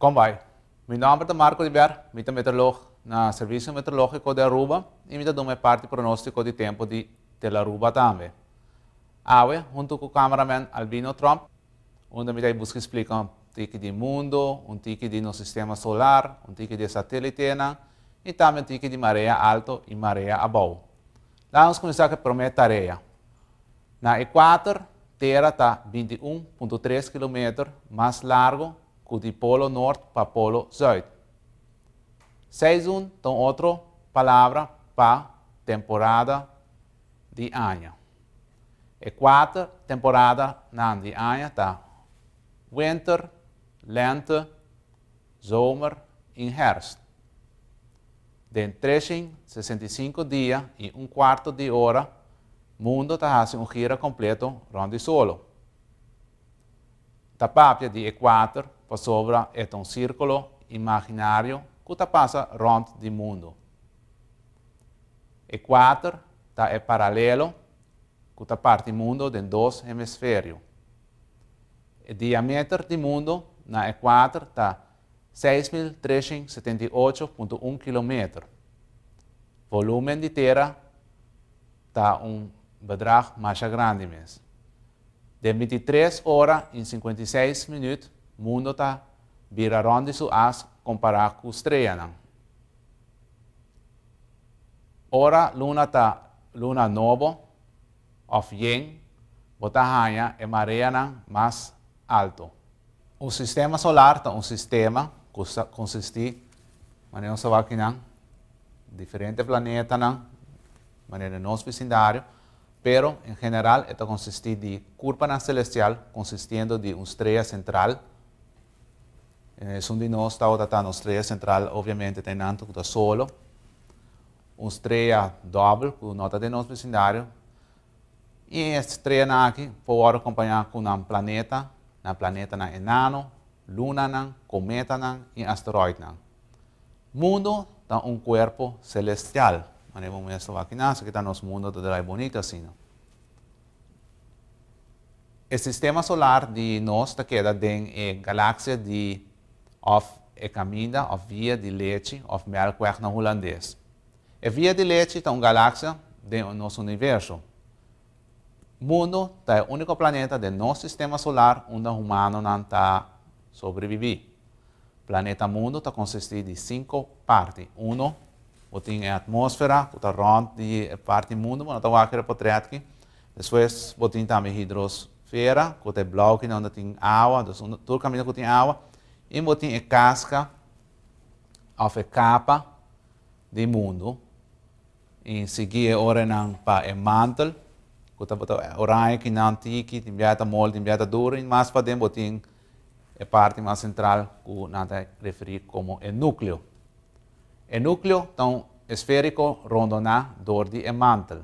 Kon bai. Mi nòmber ta Marco Ribièr, mi ta meteorolog na Servicio Meteorológico di Aruba i mi ta duna e parti pronóstico di tempu di Tel Aruba tambe. Awe, huntu ku cameraman Albino Trump, unda mi ta buska splika un tiki di mundo, un tiki di nos sistema solar, un tiki di e satelitenan i tambe un tiki di marea alto i marea abou. Laga nos kuminsá ku e promé tarea. Na ekuator, Tera ta binti i un punto tres kilometer mas largu ku di polo nort pa polo zùit. Seizoen ta un otro palabra pa temporada di aña. E kuater temporadanan di aña ta, Winter, Lente, Zomer i Hèrst. Den treshing sesenta i sinku dia i un kuarto di ora, mundu ta hasi un gira kompleto rònt di solo. N ta papia di e kuater pasobra e ta un sírkulo imaginario ku ta pasa rònt di mundu. E kuater ta e paralelo ku ta parti mundo den dos hemisferio. E diameter di mundo na e kuater ta seis mil treshent setenta i ocho punto un kilometer. Volumen di Tera ta un bedrag masha grandi mes. Den binti tres ora i sinkuenta i seis minüt mundo ta bira rònt di su as kompará ku streanan. Ora luna ta luna nobo òf yen, bo ta haña e mareanan mas alto. Un sistema solar ta un sistema ku ta konsistí manera nos ta wak aki nan, diferente planetanan manera den nos vesindario, pero en general e ta konsistí di kurpanan selestial konsistiendo di un strea sentral, Esun di nos tabata ta nos strea sentral, obviamente ta e nantu ku ta solo. Un strea dòbel ku no ta den nos vesindario. I e streanan aki por wòrdu kompañá ku nan planeta, nan planetanan enano, lunanan, kometanan i asteroidnan. Mundu ta un kuerpo selestial, manera bo mester wak inasaki ta nos mundu ta drai bonito asina. E sistema solar di nos ta keda den e galaksia di òf e kaminda òf via di lechi òf mèlkwèg na hulandes. E via di lechi ta un galaksia den nos universo. Mundu ta e úniko planeta den nos sistema solar unda humanonan ta sobrebibí. Planeta Mundu ta konsistí di sinku parti. Uno, bo tin e atmósfera ku ta rònt di e parti Mundu bo no ta wak riba potrètki. Despues bo tin tambe e hidrosfera ku ta e blauki na unda tin awa, dus unda tur kaminda ku tin awa. I bo tin e kaska òf e kapa di Mundu. I sigui e orenan pa e mantel ku ta bo ta oraña kinan tiki, tin biaha ta mol, tin biaha ta duru. I mas paden bo tin. E parti mas sentral ku nan ta referí komo e núkleo. E núkleo ta un esfériko rondona dor di e mantel.